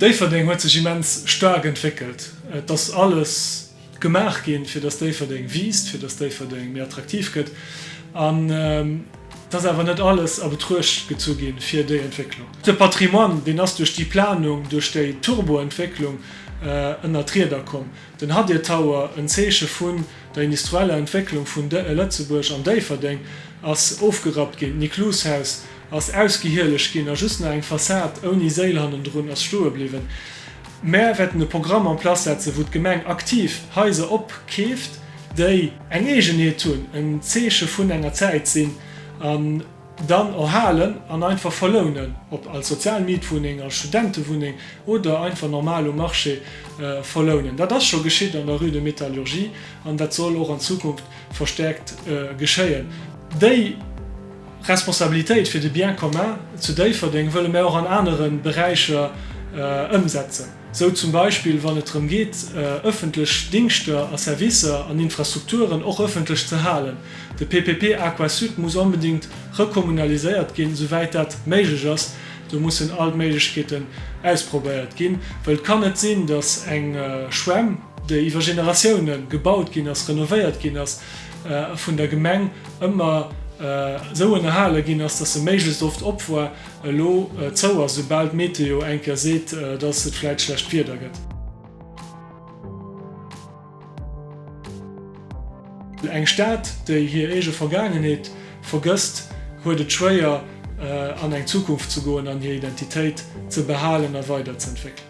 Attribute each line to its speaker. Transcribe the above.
Speaker 1: Déifferdeng huet sech immens staark entwéckelt. Et ass alles gemaach ginn, fir dass Déifferdeng wiisst, fir dass Déifferdeng méi attraktiv gëtt. An et ass awer net alles a Betruecht gezu ginn, fir déi Entwécklung. De Patrimoine, deen ass duerch déi Planung, duerch déi Turboentwécklung, ënner d'Rieder komm. Den Hadir Tower, en Zeeche vun der industrieller Entwécklung vun Lëtzebuerg an Déifferdeng, ass ofgerappt ginn. D'Niklus-Haus ass ausgehielegt ginn a just nach eng Fassad ouni Séil hannendrun ass stoe bliwwen. Mär wäerten e Programm en place setzen, wou d'Gemeng aktiv Haiser opkeeft, déi. Eng Eegenheet hunn, en Zeeche vun enger Zäit sinn an. Dann erhalen an einfach verlounen, ob als sozial Mietwunneng, als Studentewunneng oder einfach normal um Marché verlounen. Dat ass scho geschitt an der Rue de Métallurgie an dat soll och an Zukunft verstärkt geschéien. Déi Responsabilitéit fir de Bien commun zu Déifferdeng wëlle mär och an anere Beräicher ëmsetzen. Sou zum Beispill wann et drëm geet, ëffentlech Dingschter a Servicer an Infrastrukturen och ëffentlech ze halen. De PPP Aquasud muss onbedéngt rekommunaliséiert ginn, souwäit dat méiglech ass. Do mussen all d'Méiglechkeeten ausprobéiert ginn, well et kann net sinn, datt eng Schwämm, déi iwwer Generatiounen gebaut ginn ass, renovéiert ginn ass a vun der Gemeng ëmmer esou ënnerhale ginn ass, datt se méiglechst oft op war, Elo zou ass, soubal d'Meteo eng Kéier seet, dass et vläit schlecht Wieder gëtt. Eng Stad, déi hir eege Vergaangenheet vergësst, huet et schwéier, an eng Zukunft ze goen an hir Identitéit ze behalen a weiderzëentwéckelen.